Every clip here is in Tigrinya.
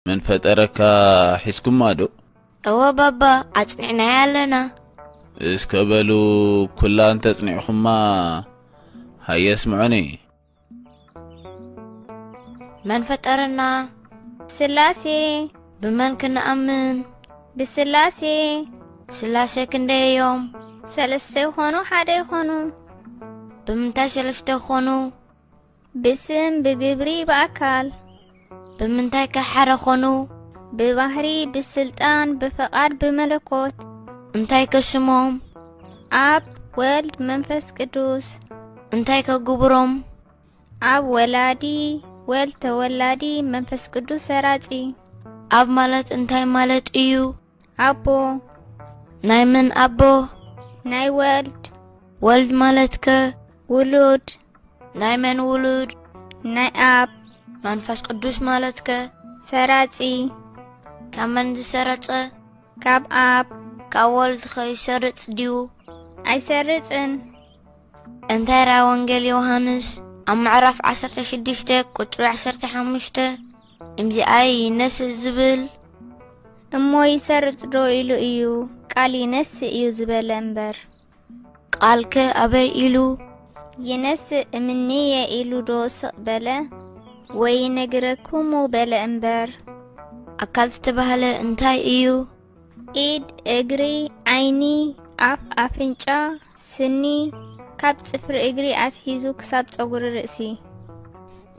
መን ፈጠረካ ሒዝኩማ ዶ? እወ ባባ ኣጽኒዕናያ ኣለና። እስከ በሉ ኩላ እንተጽኒዕኹማ ሃየ ኣስምዑኒ። መን ፈጠረና? ስላሴ። ብመን ክንኣምን? ብስላሴ። ስላሴ ክንደይ እዮም? ሰለስተ ይኾኑ ሓደ ይኾኑ? ብምንታይ ሰለስተ ክኾኑ? ብስም ብግብሪ ብኣካል። ብምንታይ ከ ሓደ ኾኑ? ብባህሪ ብስልጣን ብፍቓድ ብመለኮት። እንታይ ከ ሽሞም? ኣብ ወልድ መንፈስ ቅዱስ። እንታይ ከ ግብሮም? ኣብ ወላዲ ወልድ ተወላዲ መንፈስ ቅዱስ ሰራጺ። ኣብ ማለት እንታይ ማለት እዩ? ኣቦ ናይ መን ኣቦ? ናይ ወልድ። ወልድ ማለትከ? ውሉድ። ናይ መን ውሉድ? ናይ ኣብ። መንፈስ ቅዱስ ማለትከ? ሰራጺ። ካብ መን ዝሰረጸ? ካብ ኣብ። ካብ ወልድ ከይሰርጽ ድዩ? ኣይሰርጽን። እንታይ ራ ወንጌል ዮሃንስ ኣብ ምዕራፍ 16 ቁጽሪ 15 እምዚኣ ይነስእ ዝብል እሞ ይሰርጽ ዶ ኢሉ እዩ ቃል ይነስእ እዩ ዝበለ እምበር ቃልከ ኣበይ ኢሉ ይነስእ እምንየ ኢሉ ዶ ስቕ በለ ወይ ነግረኩሙ በለ እምበር ኣካል ዝተባህለ እንታይ እዩ? ኢድ፣ እግሪ፣ ዓይኒ፣ ኣፍ፣ ኣፍንጫ፣ ስኒ፣ ካብ ጽፍሪ እግሪ ኣትሒዙ ክሳብ ጸጉሪ ርእሲ።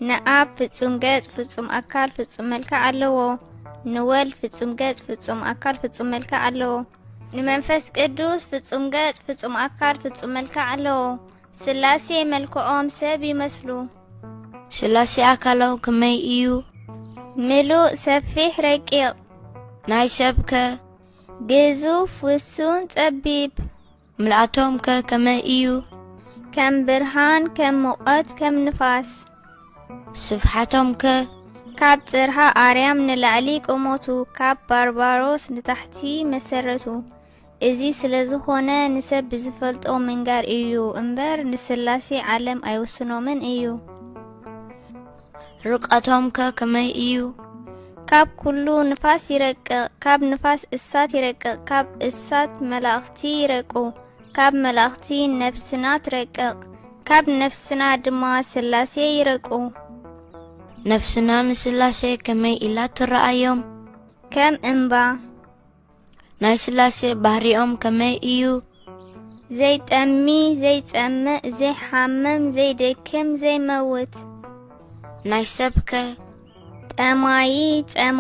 ንኣብ ፍጹም ገጽ ፍጹም ኣካል ፍጹም መልክዕ ኣለዎ። ንወልድ ፍጹም ገጽ ፍጹም ኣካል ፍጹም መልክዕ ኣለዎ። ንመንፈስ ቅዱስ ፍጹም ገጽ ፍጹም ኣካል ፍጹም መልክዕ ኣለዎ። ስላሴ መልክዖም ሰብ ይመስሉ። ስላሴ ኣካላው ክመይ ኢዩ? ምሉእ ሰፊሕ ረቂቕ። ናይ ሰብ ከ? ግዙፍ ውሱን ጸቢብ። ምልኣቶም ከ ከመይ ኢዩ? ከም ብርሃን ከም ሙቐት ከም ንፋስ። ስፍሓቶም ከ? ካብ ጽርሃ ኣርያም ንላዕሊ ቁመቱ ካብ ባርባሮስ ንታሕቲ መሰረቱ። እዚ ስለ ዝኾነ ንሰብ ብዝፈልጦ ምንጋር እዩ እምበር ንስላሴ ዓለም ኣይውስኖምን እዩ። ርቀቶምከ ከመይ እዩ? ካብ ኩሉ ንፋስ ይረቅቕ፣ ካብ ንፋስ እሳት ይረቅቕ፣ ካብ እሳት መላእኽቲ ይረቁ፣ ካብ መላእኽቲ ነፍስና ትረቅቕ፣ ካብ ነፍስና ድማ ስላሴ ይረቁ። ነፍስና ንስላሴ ከመይ ኢላ ትረኣዮም? ከም እምባ። ናይ ስላሴ ባህሪኦም ከመይ እዩ? ዘይጠሚ ዘይጸምእ ዘይሓምም ዘይደክም ዘይመውት ናይ ሰብከ? ጠማዪ ጸማ